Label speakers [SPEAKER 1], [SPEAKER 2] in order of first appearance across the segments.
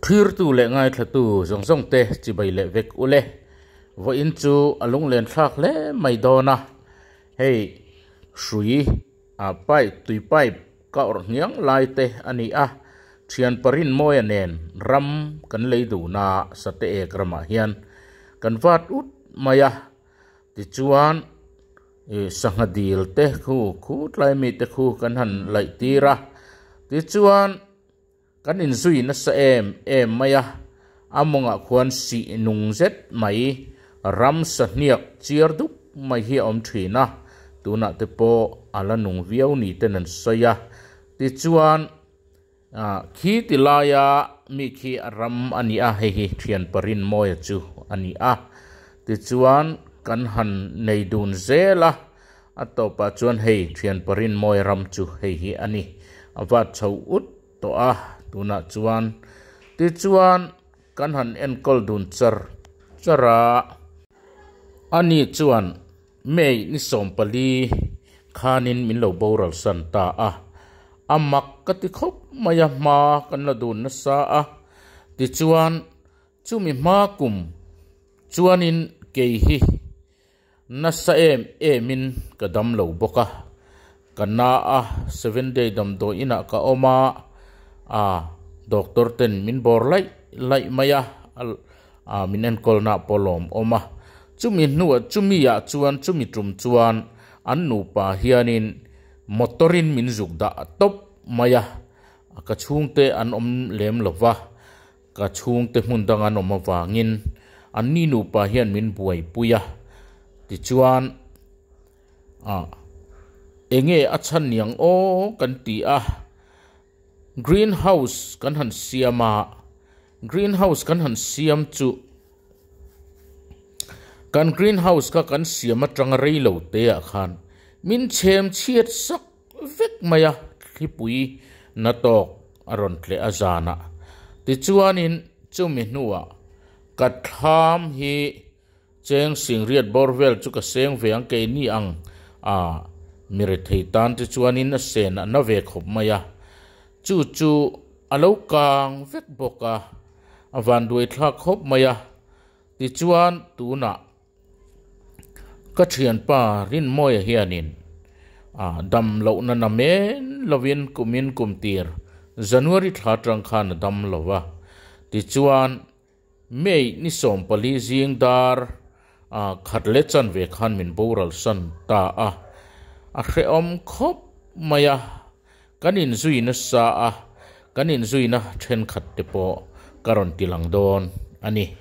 [SPEAKER 1] Thirtu leh ngaithlatu zawng zawng te chibai leh vek ule. Vawiin chu a lunglen thlak hle mai dawn a, hei hrui ah pipe tui pipe ka awrh hniang lai te a ni a, thian pa rinmawia nen ram kan lei dun a sate ek ramah hian kan vat ut mai a tichuan, Sangha dil te khu, khu tlai mi te khu kan han laih tir a, tichuan kan inzui nasa em em mai a, a mawngah khuan sih nung zet mai, ram sahniak chiar dup mai hi a awm thin a, tunah te pawh a la nung viau ni ten an sawi a, tichuan. Khi ti laia mi khi a ram a ni a, hei hi thian parin mawia chu a ni a. Tichuan, kan han nei dun zel a, a tawpah chuan hei thian parin mawi ram chu hei hi a ni. A vat chho ut tawh a, tunah chuan. Tichuan, kan han enkawl dun char char a, ani chuan May ni sawm pali khanin min lo boral san ta a, a mak ka ti khawp mai a hma kan la dun nasa a. Tichuan chumi hma kum chuanin kei hi nasa em emin ka dam lo bawk a. Ka na a seven day damdawi inah ka awm a, a doctor ten min bawr laih laih mai a, a min enkawl na pawh lawm awm a. Chumi hnu chumi ah chuan chumi tum chuan an nupa hian in motor in min zuk dah tawp mai a, ka chhung te an awm lem lo va, ka chhung te hmun dang an awm avang in an ni nupa hian min buaipui a, tichuan. A. Enge a chhan niang aw kan ti a, Green house kan han siam a, Green house kan han siam chu kan Green house kha kan siam atanga rei lo te ah khan min chhem chhiat sak vek mai a, Thlipui na tawk a rawn tle a zan a. Tichuan in chumi hnu ah ka thlam hi, Cheng sing riat bawr vel chu ka seng ve ang kei ni ang a, mi rethei tan te chuanin a sen a na ve khawp mai a. Chu chu a lo kang vek bawk a, a vanduaithlak khawp mai a. Tichuan tunah ka thianpa Rinmawia hianin a dam loh nana men lovin kumin kum tir January thla tang khan a dam lo a. Tichuan. May ni sawmpali zing dar a khat leh chan ve khan min boral san ta a, a hrehawm khawp mai a, kan inzui nasa a, kan inzuina thenkhat te pawh ka rawn ti lang dawn a ni.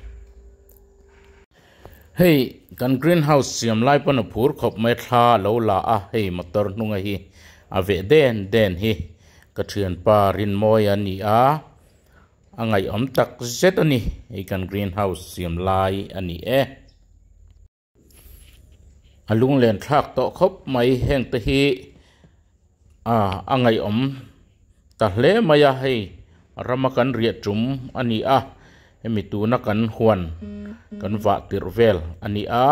[SPEAKER 1] Hei kan green house siam lai pawn a phur khawp mai a, thla a lo la a, hei motor hnunga hi a veh den den hi ka thianpa Rinmawia a ni a, A ngaihawm tak zet a ni. Hei kan green house siam lai a ni e. A lunglen thlak tawh khawp mai heng te hi a ngaihawm ta hle mai a. Hei rama kan riah tum a ni a. Hemi tuna kan huan kan vah tirh vel a ni a.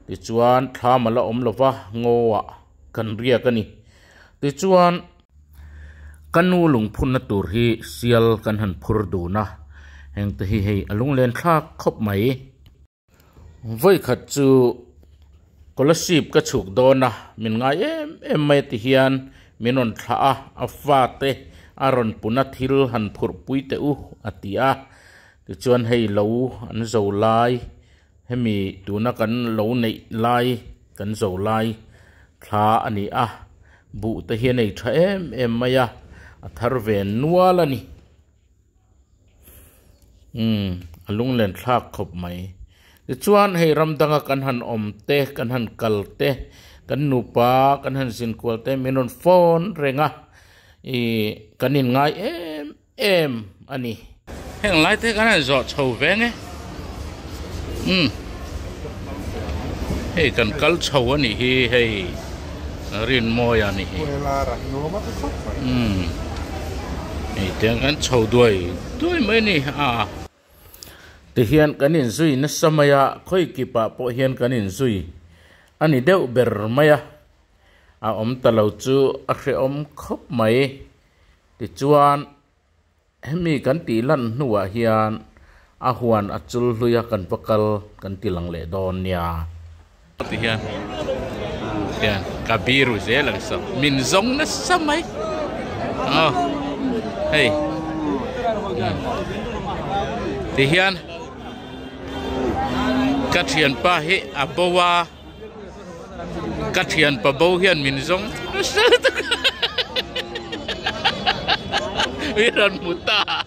[SPEAKER 1] Tichuan thla mala awm lova ngawah kan riak a ni. Tichuan Ka nu lungphunna tur hi sial kan han phur dun a, hengte hi hei a lunglen thlak khawp mai. Vawikhat chu Scholarship ka chhuk dawn a, min ngai em em mai ti hian min rawn thlah a, a fate a rawn puna thil han phurh pui teh u a ti a, tichuan hei lo an zo lai Hemi tuna kan lo neih lai, kan zo lai thla a ni a, buh te hi a nei tha em em mai a, a thar ve nual a ni. Umm, a lunglenthlak khawp mai. Tichuan hei ram danga kan han awm te, kan han kal te, kan nupa kan han zin kual te min rawn phone reng a, ih, kan inngai em. Em a ni. Heng lai te kan han zawh chho ve nge. Umm. Hei kan kal chho a nih hi hei Rinmawi a nih hi. Umm. Hei te kan chho duai duai mai ni a. Ti hian kan in zui nasa mai a, khawi kip ah pawh hian kan in zui a ni deuh ber mai a. A awm ta lo chu a hrehawm khawp mai. Tichuan, hemi kan tih hlan hnuah hian a huan a chul hlui a kan va kal kan ti lang leh dawn nia. Ti hian hian ka biru zel ang sa, min zawng nasa mai aw hei ti hian ka thianpa hi a bo a. Ka thianpa bo hian min zawng hrisel tak a, min rawn hmu ta a,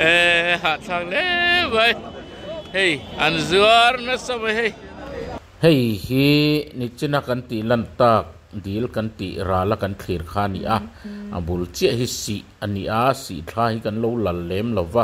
[SPEAKER 1] ehh hahthlak hle mai, hei an zuar nasa mai hei. Hei hi Nichina kan tih lan tak dil kan tih ral a kan thlir kha a ni a, a bul chiah hi sih a ni a, sih thla hi kan lo lal lem lo va,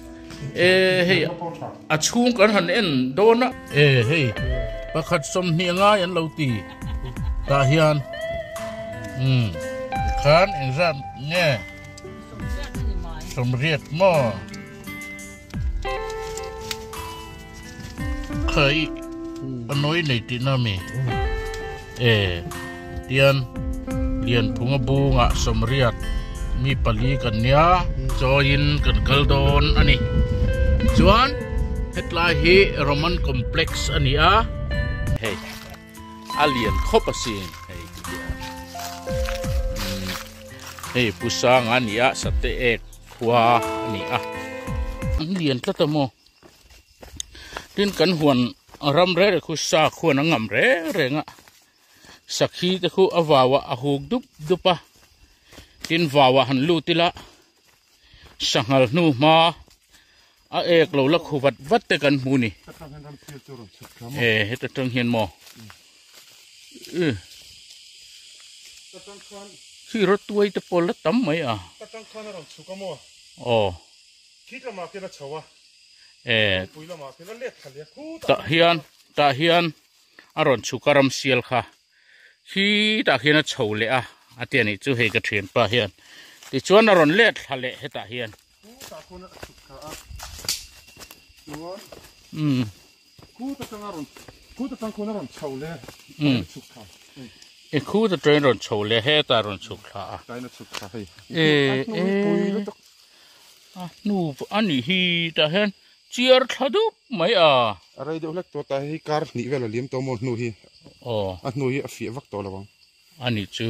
[SPEAKER 1] E hei a chhung kan han en dawn a. E hei pakhat sawmhnih a ngai an lo ti tah hian umm khan engzat nge sawmriat maw? Kha i a nawi nei tihna mi e tian Lianphung a bungah sawmriat mi pali kan nia. Chawiin kan kal dawn a ni. Chuan hetlai hi Roman complex a ni a. Hei a lian khawp a si hei ti hi a. Hei Pusanga nia Sateek khua a ni a. An lian tlat a maw? tin kan huan ram reh reh khu sa khuan a ngam reng reng a sakhi te khu a vau ah a huk dup dup a tin vau ah han lut ila sanghal hnu hma a ek lo la khu vat vat te kan hmu ni e heta tang hian mo e khi ro tuai te pawh la tam mai
[SPEAKER 2] a o
[SPEAKER 1] Thik lamah
[SPEAKER 2] khian a chho a, lungpui lamah khian a let thal e. Tah hian, tah
[SPEAKER 1] hian a rawn chhuk a ram sial kha. Khi tah khian a chho leh a, a ti a nih chu hei ka thianpa hian. Tichuan a rawn let thla leh hetah hian.
[SPEAKER 2] Thu tah khawn a chhuk thla a, chuan. Umm. Khu ta tanga rawn
[SPEAKER 1] khu ta tang khuna rawn chho le um chuk kha e khu ta train rawn chho le he ta rawn chuk kha a tai na chuk kha hei
[SPEAKER 2] e e
[SPEAKER 1] a nu ani hi ta hen chiar thla dup mai a a rei deuh hlek tawh
[SPEAKER 2] ta hi kar hnih vel a liam tawh maw hnu hi aw a hnu hi a fiah vak tawh lo ang Ani chu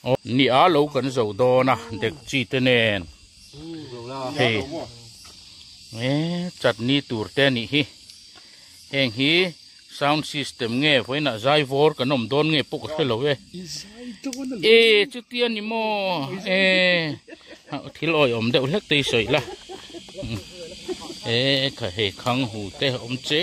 [SPEAKER 1] aw nia lo kan zo dawn a dekchi te nen hei e chutney tur te anih hi heng hi sound system nge vawiin ah zai vawr kan awm dawn nge pawh ka hre lo e e chuti ani maw e thil awih awm deuh hlek te i sawi la e kha hei khang hu te awm che.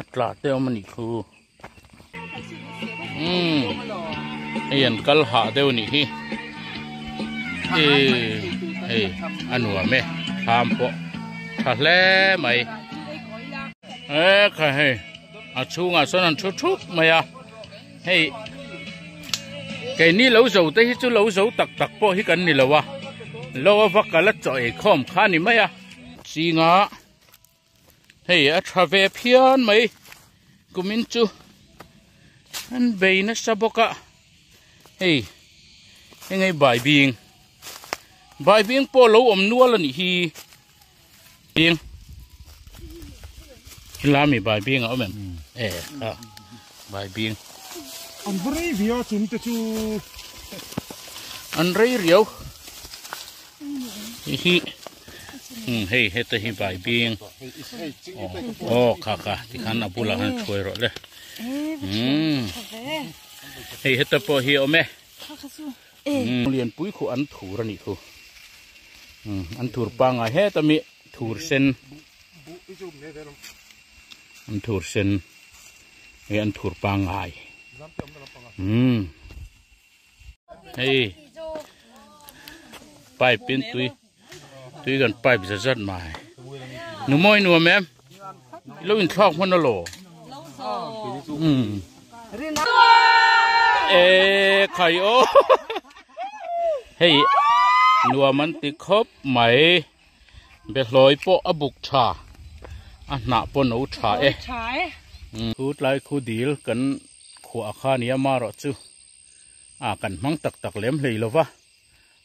[SPEAKER 1] a tla te awm a nih thu umm hei an kal hah deuh a nih hi e hei a nuam e tham pawh tha hle mai e kha hei a chhungah sawn an thu thup mai a hei keini lo zo te hi chu lo zo tak tak pawh hi kan ni lo a lo a va kal a chaw ei khawm kha a ni mai a chinga Hei a tha ve phian mai kumin chu an bei nasa bawk a hei enge bai bing bai bing pawh lo awm nual a nih hi bing lami bai bing a awm em e a bai bing an
[SPEAKER 2] rei via chum te chu
[SPEAKER 1] an rei riau hi hi hmm, hei heta hi bai bing o oh, kha kha ti khan a bula han chhuai rawh le hmm. hei heta pawh hi awm e hmm. lian pui khu an thur a nih thu hmm, an thur pangai he tami thur sen an thur sen he an thur pangai hmm. hei pipe in tui tui kan pipe zat zat mai nu mawi nuam em i lo in thlak hman alaw um e khai o hei nuam an ti khawp mai be hlawih pawh a buk tha a hnah pawh no tha e chu tlai khu dil kan khuah kha nia marawh chu ah kan hmang tak tak lem hlei lo va,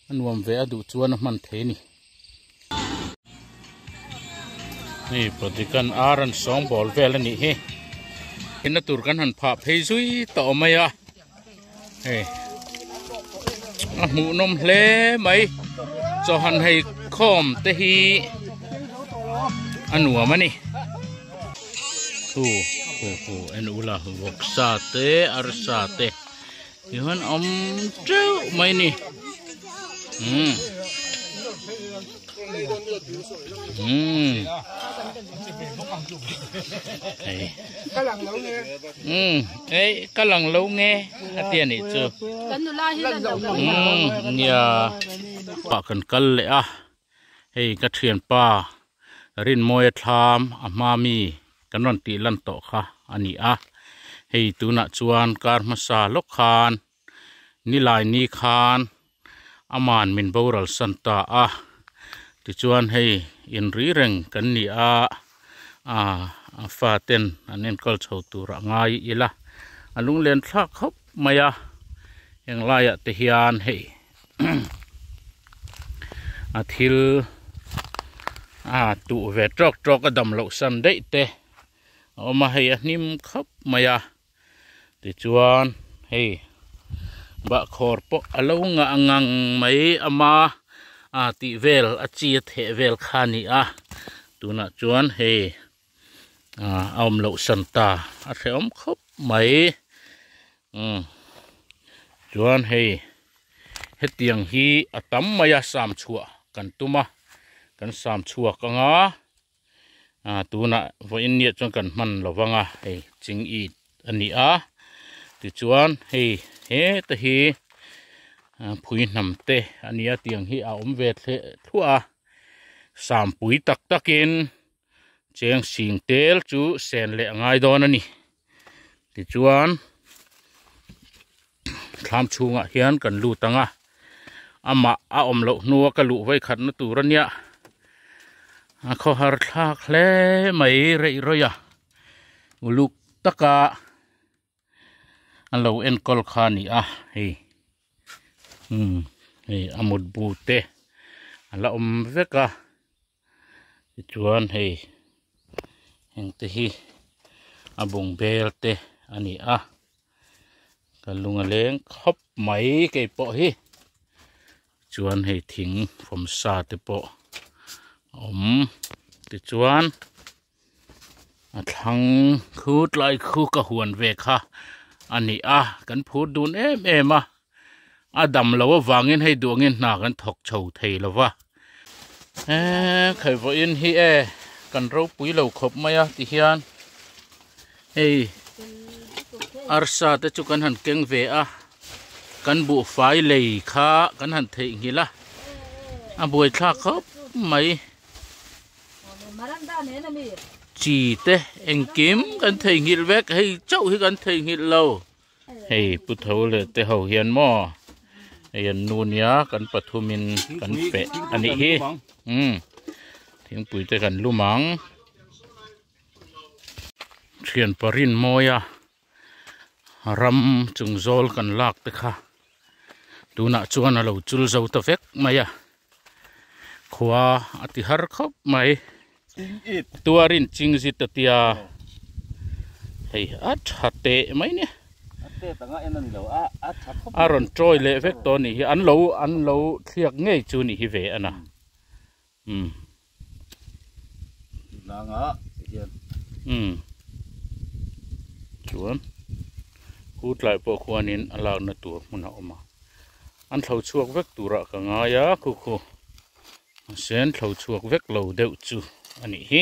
[SPEAKER 1] a nuam ve a duh chuan a hman thei ni. Hei Podikan Aran sawng bawl vel a nih hi, i na tur kan han phah phei zui ta awm mai a, hei a hmuhnawm hle mai chaw han hei khawm te hi a nuam a ni. Hu hu hu en ula vawksa te arsa te ti han om treu mai ni hmm hmm ei kalang lo nge hmm ei kalang lo nge atia ni chu kan nula hi lan lo nge nia pa kan kal le a Hei ka thianpa Rinmawia Thlam a hma mi kan rawn tih lan tawh kha a ni a, hei tunah chuan kar hmasa lawk khan nilai ni khan ama'n min boral san ta a, tichuan hei inri reng kan ni a a fa ten an enkawlh chho tur a ngai ila a lunglen thlak hawp mai a, heng laiah te hian hei. a thil a tuh ve trawk trawk a dam loh san daih te a awm a hei a hnim khap mai a tichuan hei bahkhawr pawh a lo ngah ngang mai a ma a tih vel a chi a theh vel kha a ni a tunah chuan hei. a awm loh san ta a hrehawm khawp mai umm chuan hei hetiang hi a tam mai a sam chhuah kan tum a kan sam chhuak anga a tunah vawiin nge chuan kan hman lo vang a hei ching it a ni a tichuan hei hete hi phui hnam te a nia tiang hi a awm ve thluah a sampui tak takin. chengsing tel chu sen leh a ngai dawn a ni tichuan thlam chhungah hian kan lut ang a amah a awm loh hnua ka luh vawi khat na tur ania a khaw har thlak hle mai reih rawi a uluk taka a lo enkawl kha a ni a hei umm hei a mutbu te a la awm vek a. Tichuan hei engte hi a bung bel te a ni a, ka lung a leng khawp mai kei pawh hi chuan hei thing fawmsa te pawh a awm tichuan. A thlang khu tlai khu ka huan ve kha a ni a, kan phur dun em em a, a dam lo avangin hei duangin hna kan thawk chho thei lo va. Eee khawivawhin hi e, kan ropui lo khawp mai a ti hian hei arsa te chu kan han keng ve a, kan buhfai lei kha kan han theihnghilh a, a buaithlak khawp mai. Chi te engkim kan theihnghilh vek hei chauh hi kan theihnghilh lo. Hei pu tho leh te ho hian maw hei an nu nia kan pathum in kan pe a nih hi umm thingpui te kan lum ang. Thianpa rinmawia. ram chung zawl kan lak te kha tunah chuan a lo chul zo ta vek mai a, khua a ti har khawp mai, tuarin chingzit a tia hei a tha teh mai nia, a rawn ṭawi leh vek tawh a nih hi, an lo an lo thliak ngei chu nih hi ve a na. Umm. Hnanga te hian. Umm. Chuan Hu Tlai pawh khuanin a lakna tur hmun a awm a, an thlo chhuak vek turah ka ngai a, Khukhu. Sen thlo chhuak vek lo deuh chu a nih hi.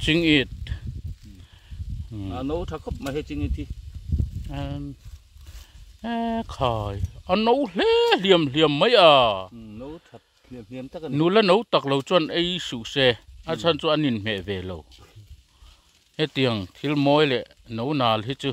[SPEAKER 1] Ching it. A
[SPEAKER 3] no tha khawp mai he ching it hi.
[SPEAKER 1] E khai, a no hle hliam hliam mai a. No tha
[SPEAKER 3] hliam hliam tak a ni. Nula no tak lo
[SPEAKER 1] chuan ei suh se, a chhan chu an inhmeh ve lo. Hetiang thil mawi leh no nal hi chu.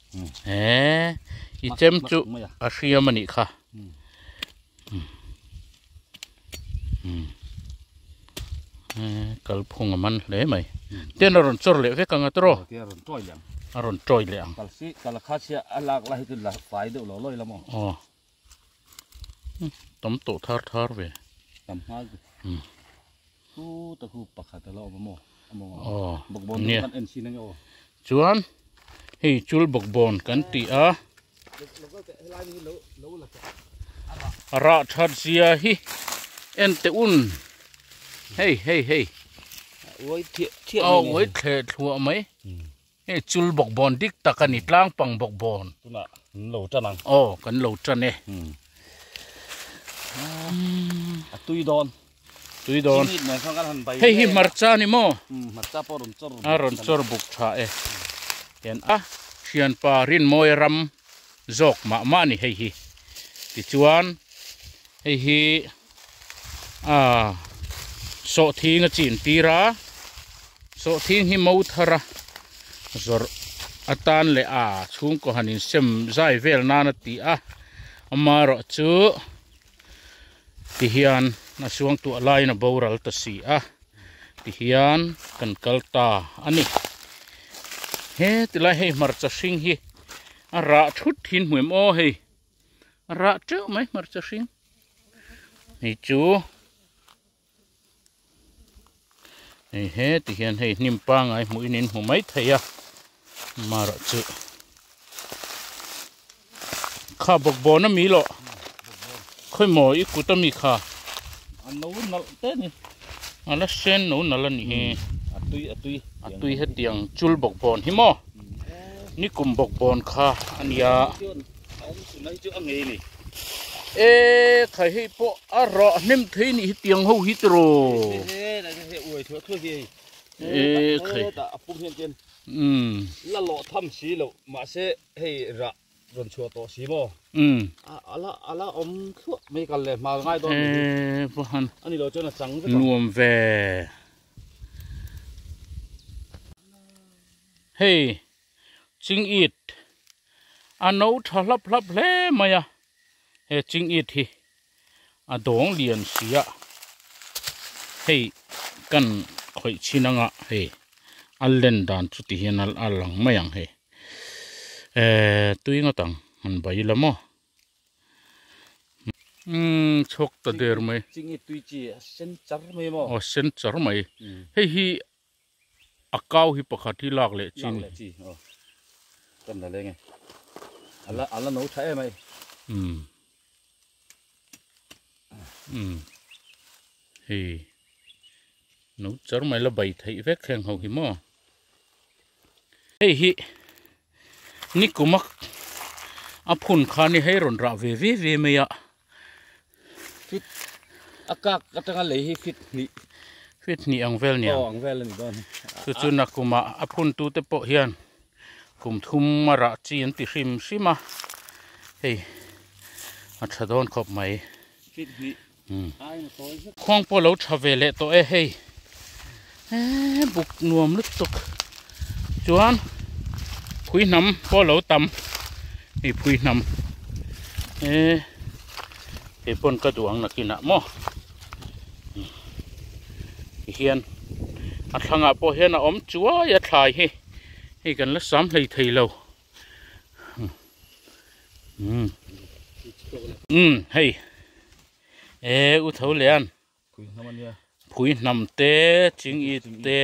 [SPEAKER 1] he i chem chu a hriam a nih kha kalphung a man hle mai ten a rawn chawr leh vek ang atawrh a rawn tawih
[SPEAKER 3] leh ang.
[SPEAKER 1] tam tawh thar thar ve tam nghal ve hmm.
[SPEAKER 3] thu ta khu pakhat ala awm mo mo oh bok bon kan en sin nge o chuan
[SPEAKER 1] hei chul bok bon kan ti a ara that zia hi en te un hei hei hei
[SPEAKER 3] oi thiet thiet oi thlet thua
[SPEAKER 1] mai hmm. Hei chul bawk bawn dik tak a ni, tlang pang bawk bawn. Tunah kan lo tan ang.
[SPEAKER 3] Aw, kan lo tan e. A tui dawn. Tui dawn. Chimit nen chuan kan han bai hle.
[SPEAKER 1] Hei hi hmarcha a ni maw? Hmarcha pawh a rawn chawr
[SPEAKER 3] buk tha. A rawn chawr buk
[SPEAKER 1] tha e. Hian a thianpa Rinmawi a ram zawk mah mah a ni hei hi. Tichuan hei hi. Aa, sawhthing a chin tir a, sawhthing hi mo thar a zawrh atan leh a chhungkaw han insem zai vel nan a ti a, ama erawh chu tihian a suangtuah laiin a boral ta si a tihian kan kal ta a ni. He tilai hei hmarcha hring hi a rah thut thin hmuim aw hei. Rah teuh mai hmarcha hring. Hei chu. Hei he ti hian hei hnim pangai hmuhin in hmu mai thei a. Marah chu. Kha bawk bawn a mi loh. Khawih maw i kut a mi kha. A no
[SPEAKER 3] nalh te ni. A la sen
[SPEAKER 1] no nalh a ni e. A tui a tui.
[SPEAKER 3] A tui hetiang
[SPEAKER 1] chul bawk bawn hi maw? Ni kum bawk bawn kha a ni a. Tunai chu a ngei ni. E thai hei po a ra hnem thei ni hitiang ho hi tiro. He la ni he uai thua thua hi.
[SPEAKER 3] E khai. Ta apum hian ken. Um. La lo tham si lo ma se hei ra ron chua to si mo. Um. Ala ala om thua mai kal le mal ngai don. E po han. Ani lo chona chang ve. Nuam ve.
[SPEAKER 1] Hei. Ching it a no tha hlap hlap hle mai a, he ching it hi a dawng lian si a, hei kan khawih chin anga hei a len dan chu ti hian a lang mai ang hei eh tui ngawt ang han bai ila maw. Umm chhawk ta der mai. Ching it tui chi a
[SPEAKER 3] sen char mai maw. Aw a sen char mai,
[SPEAKER 1] hei hi. A kau hi pakhat hi lak leh chin. Lak leh chi aw.
[SPEAKER 3] Kan la leng e. Ala ala no tha em mai. Umm.
[SPEAKER 1] Umm. Hi. No char mai la bai theih vek heng ho hi maw. Hei hi. Nikuma a phun kha ni hei rawn rah ve ve ve mai a.
[SPEAKER 3] Fit a kak atanga lei hi fit hnih. Fit hnih ang vel nia.
[SPEAKER 1] Aw ang vel a ni dawn.
[SPEAKER 3] Chu chu Nakuma
[SPEAKER 1] a phun tu te pawh hian kum thum a rah chi an ti hrim hrim a. Hei a tha dawn khawp mai. Fit hnih. Khuang pawh lo tha ve leh tawh e hei eeh buk nuam lutuk chuan phui hnam pawh a lo tam hei phui hnam eeh kei pawn ka duh ang nakin ah maw tihian a thlangah pawh hian a awm chuai a thlai hi hei kan la sam hlei thei lo. um um hei e u tho lian phui hnam te
[SPEAKER 3] ching it te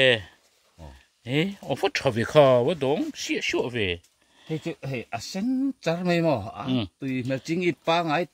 [SPEAKER 3] e awfa tha ve kha va dawng siah siah ve hei chu hei a sen char mai maw a tui hmel ching it pangai--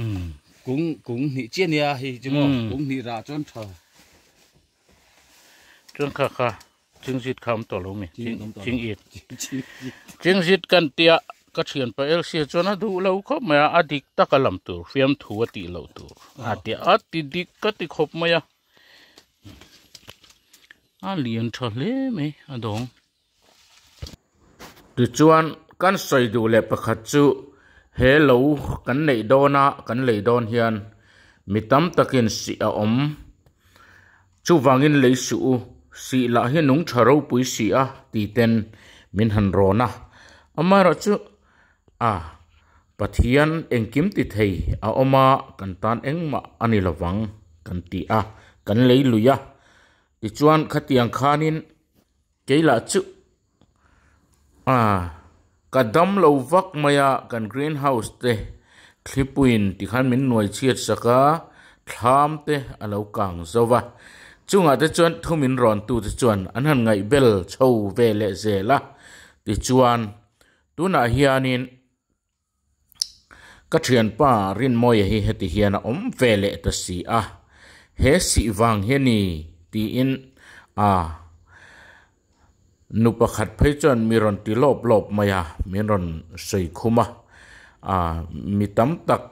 [SPEAKER 3] um kung kung hnih chiah nia hi chu maw um kung hnih rah chuan tha chuan kha kha chingzit kha awm tawh lo mi chingit chingzit kan tia ka thian pa lc chuan a duh lo khawp mai a a dik taka lam tur fiam thu a tih loh tur a tia a ti dik ka ti khawp mai a a lian tha hle mai a dawng Tichuan, kan sawi duh leh pakhat chu, he lo kan neih dawn a, kan lei dawn hian mi tam takin sih a awm. Chuvangin lei suh u, sih lah hi nung tha ropui si a tih ten min han rawn a. Amaherawh chu, a, Pathian engkim ti thei a awm a, kan tan engmah a ni lovang kan ti a, kan lei lui a. Tichuan, khatiang khanin Kei lah chu aah ka
[SPEAKER 1] dam lo vak mai a, kan green house te thlipuiin ti khan min nuai chhiat sak a, thlam te a lo kang zo va. Chungah te chuan thum in rawn tu te chuan an han ngaih bel chho ve leh zel a. Tichuan tunah hianin. Ka thianpa Rinmawia hi heti hian a awm ve leh ta si a, he sih vang hi a ni tiin a nu pakhat phei chuan mi rawn ti lawp lawp mai a, min rawn sawi khum a, a mi tam tak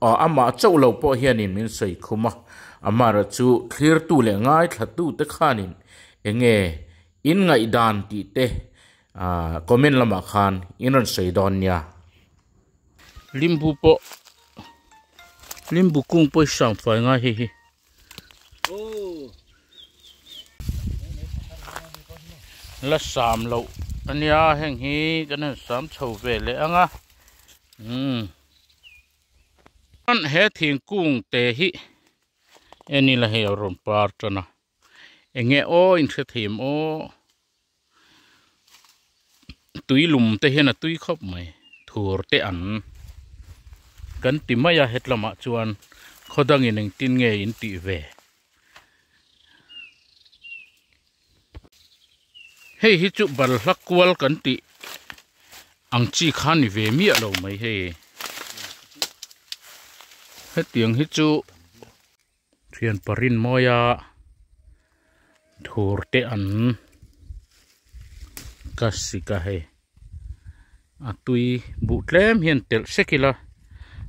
[SPEAKER 1] aw amah chauh lo pawh hianin min sawi khum a, amaherawh chu thlirtu leh ngaithla tute khanin enge in ngaihdan tih te Ahh comment lamah khan in rawn sawi dawn nia. Limbu pawh Limbu kung pawh i sang fai ngai hei hi. La sam loh a nia heng hi kan han sam chho ve leh ang a. Umm. He thingkung te hi eni la hei a rawn par tan a. Enge aw inhre theiam aw. Tui lum te hian a tui khawp mai. Thur te an kan ti mai a hetlamah chuan khaw dangin engtin nge in tih ve. Hei hi chu balhla kual kan tih ang chi kha ni ve miah lo mai hei. Hetiang hi chu. Thianpa rinmawia thurte an ka sik a hei a tui buh tlem hian telh sek ila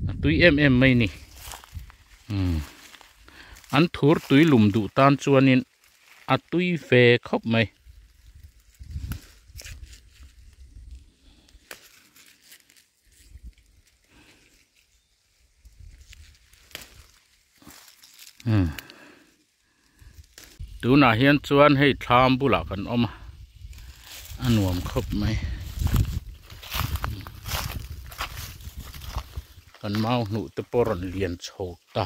[SPEAKER 1] a tui em em mai ni umm an thur tui lum duh tan chuanin
[SPEAKER 3] a tui ve khawp mai Tunah hian chuan hei thlam bulah kan awm a, a nuam khawp mai. Kan mau hnuh te pawh rawn lian chho ta.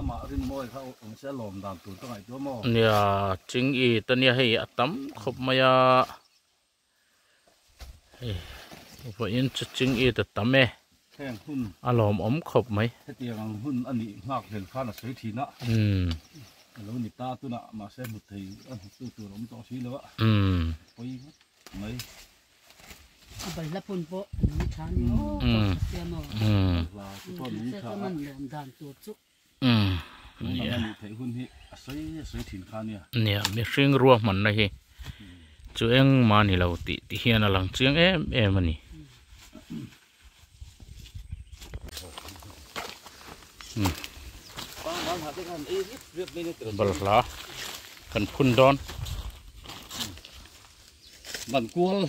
[SPEAKER 3] ama rin mawi kha awm se lawm dan tur ka ngai tel maw nia ching i ta nia hei a
[SPEAKER 1] tam khawp mai a hei vawiin chu
[SPEAKER 3] ching i ta tam e thleng hun a lawm awm khawp
[SPEAKER 1] mai hetiang ang hun a nih nghak vel khan a sawi thin a
[SPEAKER 3] um a lo ni ta tunah mahse hmu thei a hmu tu tur awm tawh si lo a um pawii
[SPEAKER 4] mai
[SPEAKER 3] nia mihring rua hmanna hi chu engmah a nilo
[SPEAKER 1] tih tih hian a lang chiang em em a ni. balhla kan
[SPEAKER 3] phun dawn ban kual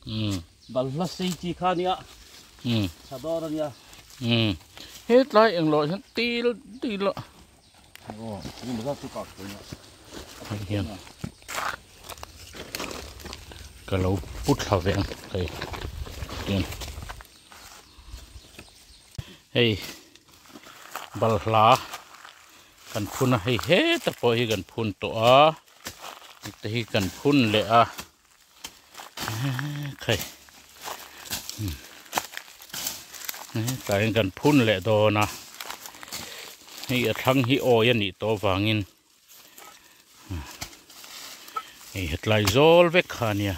[SPEAKER 3] hmm. balhla sei chi kha nia hmm. sador ania hmm.
[SPEAKER 1] he tlai englo hian til til
[SPEAKER 3] Hei balhla kan phun a hei heta pawh hi kan phun tawh a hetihi kan phun leh a. Khai Tlaiin kan phun leh dawn a Hei a thlang hi awi a nih tawh vangin Hei hetlai zawl vek kha nia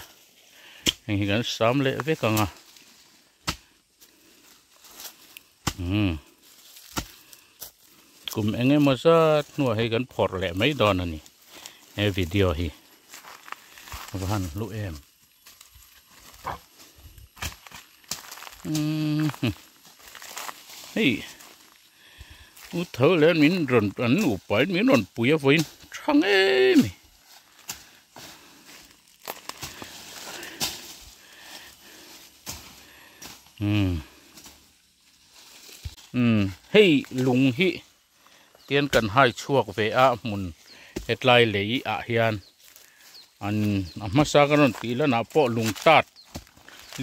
[SPEAKER 3] Hei hi kan sam leh vek
[SPEAKER 1] ang a. Hmm. Kum enge mo zat hnuah hei kan phawrh leh mai dawn a ni. He video hi. Va han hlu em. Hmm. Hei. U tho len min ron an u pai min ron pui a voin. Thang em. Hei lung hi tian kan hai chhuak ve a hmun hetlai lei ah hian an a hmasa ka rawn tih lan ah pawh lung tat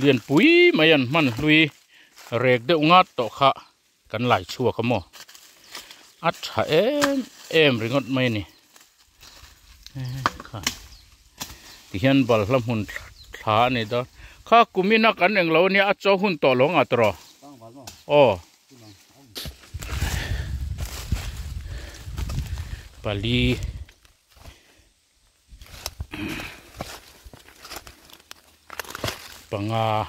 [SPEAKER 1] lian pui mai an hman hlui rek deuh ngat tawh kha. Kan lai chhuak a maw? A tha em em ringawt mai a ni. Tihian balhla hmun thla a ni dawn. Kha kumin a kan eng lo a nia, a chaw hun tawh lo ngah ta rawh. Aw. Pali.
[SPEAKER 3] panga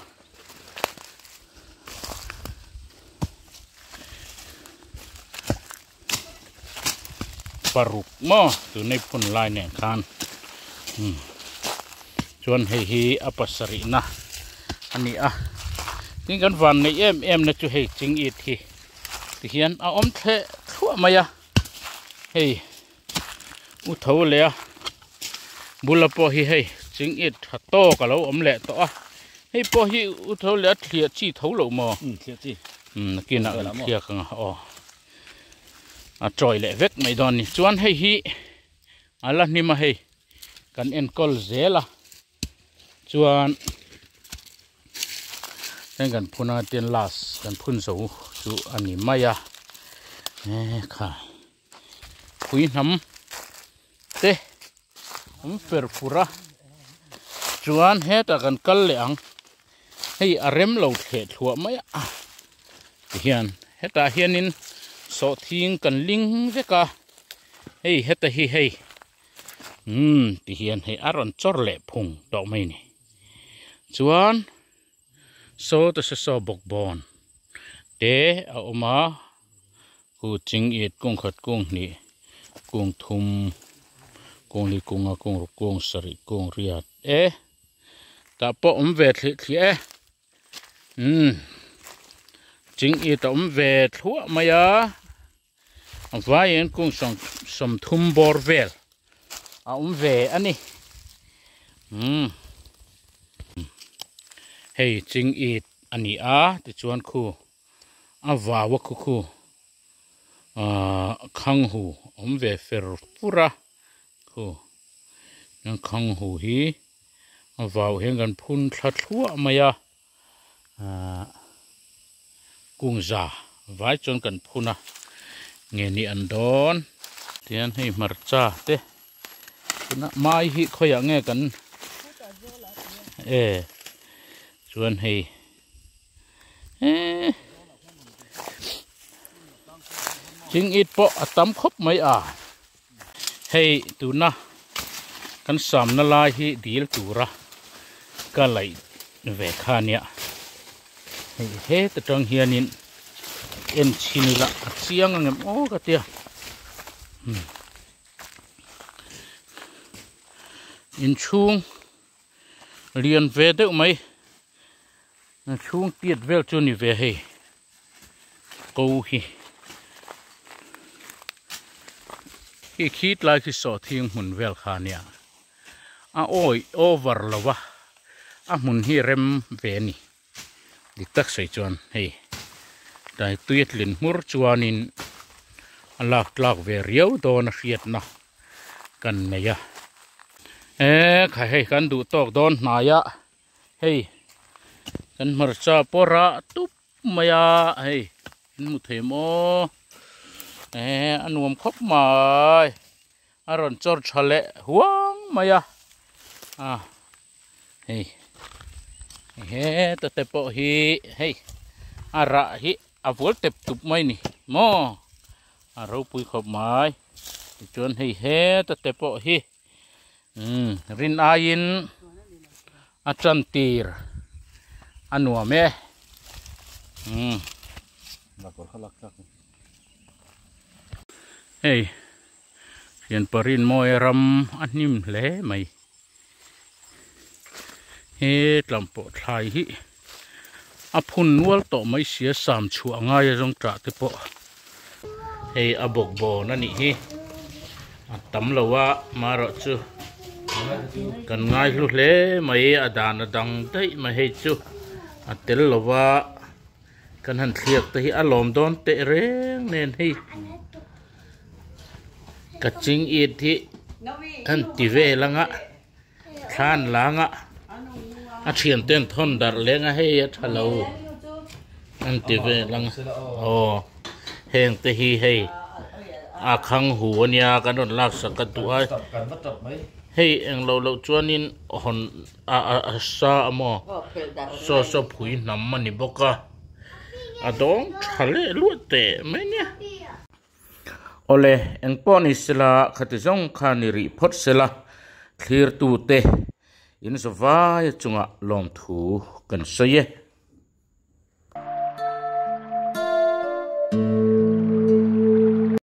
[SPEAKER 3] paruk mo tu nei phun lai nen khan hmm. chuan hei hi a pasarih na ani a tin kan van nei em em na chu hei ching it hi ti hian a om thle thluah mai a hei U tho leh a bula pawh hi hei ching it tha tawk a lo awm leh tawh a. Hei pawh hi u tho leh a thliah chi tho lo maw? Umm thliah chi. Umm nakinah kan thliak ang a aw. A tawih leh vek mai dawn a ni. Chuan hei hi a la hnim a hei kan enkawl zel a chuan heng kan phun anga tin last kan phun zo chu a ni mai a. Ehh khai. pui hnam te awm fer fur a chuan hetah kan kal leh ang
[SPEAKER 1] hei a rem lo thleh thluah mai a ti hian hetah hianin sawh thing kan ling vek a hei heta hi hei umm ti hian hei a rawn chawr leh phung tawh mai ni chuan-- Sawta se saw bawk bawng te a awm a, kung ching it, kung khat, kung hnih, kung thum, kung li kung a, kung ruk, kung sarih, kung riat e tah pawh awm ve thlih thlih e. Umm ching it a awm ve thluah mai a. A vaiin kung sawm sawm thum bawr vel a awm ve a ni. Umm. Hei ching it a ni a, tichuan khu a vaua khu khu aah khanghu a awm ve fer fur a. Khu khanghu hi a vau hian kan phun thla thluah mai a. kung za vai chuan kan phun a nge ni an dawn tian hei hmarcha te tuna mai hi khawiah nge kan e chuan hei e ching it pawh a tam khawp mai a. Hei tuna kan samna lai hi dil tura ka laih ve kha ania. Hei heta tang hianin en chhin ila a chiang angem aw ka tia. Inchhung. lian ve deuh mai chhung tiat vel chu ni ve hei ko hi khi khi tlai khi saw thing hmun vel kha nia a oi over lova a hmun hi rem ve ni. dik tak sawi chuan hei tlai tui a tlin hmur chuanin a lak tlak ve riau dawn a hriatna kan nei a e kha hei kan duh tawk dawn hnai a hei kan hmarcha pawr a tup mai a hei kan hmu thei maw e a nuam khawp mai. a rawn chawr tha leh huang mai a a hei he ta te pawh hi hei a rah hi a vual tep tup mai ni maw a ropui khawp mai tichuan hei he ta te pawh hi um rin aiin a chan tir a nuam e
[SPEAKER 3] um hei
[SPEAKER 1] Lianparin Mawia ram a hnim hle mai. He tlampawh thlai hi a phun nual tawh mai sia sam chhuah ngai a zawng tah te pawh hei a bawkbawn a nih hi a tam lo a, marawh chu kan ngaihlu hle mai a dan a dang daih mai hei chu a tel lo va. Kan han thliak te hi a lawm dawn teh reng nen hei. Kaching Eid hi an ti vel anga thlan langa a thian ten thon dar lenga hei a tha lo an ti vel ang aw heng te hi hei a khang hu ania kan rawn laksak ka duh a hei englo loh chuanin hawn A a sa a maw? Saw saw phui hnam a ni bawk a, a dawng tha leh luat teh mai nia. Aw le, eng pawh ni sela khati zawng khan i rih phawt sela, thlirtu te in saw vai a chungah lawmthu kan sawi e.